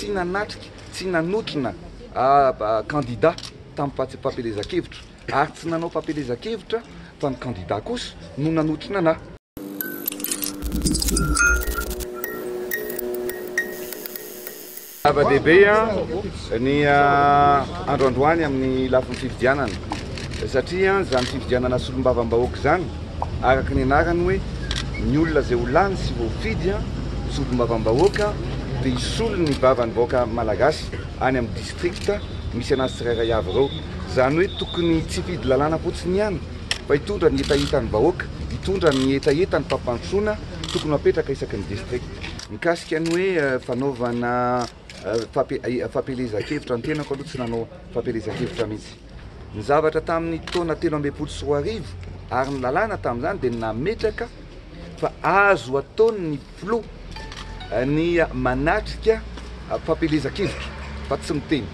Tsy nanatrika, tsy nanotrona kandida tamim-pampelezan-kevitra ary tsy nanao fampielezan-kevitra fa ny kandida kosa no nanotrona anà. Zava-dehibe ny andro androany amin'ny lafiny fifidianana satria izany fifidianana solombavambahoaka izany araka ny anarany hoe ny olona izay ho lany sy voafidy solombavambahoaka dia hisolo ny vavan'ny vahoaka malagasy any amin'ny district misy anazy tsirairay avy ireo. Izany hoe tokony tsy hifidy lalàna fotsiny ihany fa hitondra ny hetahetan'ny vahoaka, hitondra ny hetahetan'ny fampandrosoana tokony ho apetraka isaky ny district. Mikasika ny hoe fanaovana fampielezan-kevitra, ny tenako aloha tsy nanao fampielezan-kevitra mihitsy. Ny zavatra tamin'ny taona telo ambin'ny folo sy roa arivo ary ny lalàna tamin'izany dia nametraka fa azo ataon'ny filoha ny manatrika fampielezan-kevitra fa tsy miteny.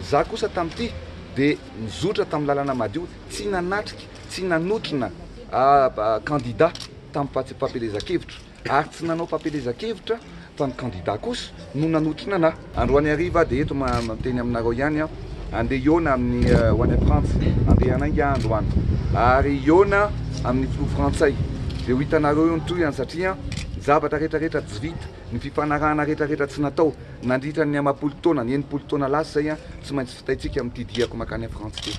Izaho kosa tamin'ity dia nizotra tamin'ny lalana madio, tsy nanatrika, tsy nanotrona kandida tamin'ny fampielezan-kevitra. ary tsy nanao fampielezan-kevitra fa ny kandida kosa no nanotrona anà. Androany hariva dia eto teny aminareo ihany aho, handeha hihaona amin'ny ho any Frantsa, handeha hanainga aho androany ary hihaona amin'ny filoha frantsay, dia ho hitanareo eo ny tohiny satria ny zavatra rehetrarehetra tsy vita, ny fifanarahana rehetrarehetra tsy natao nandritra ny amam-polo taona, ny enimpolo taona lasa izay tsy maintsy vitaintsika amin'ity diako mankany Frantsa ity.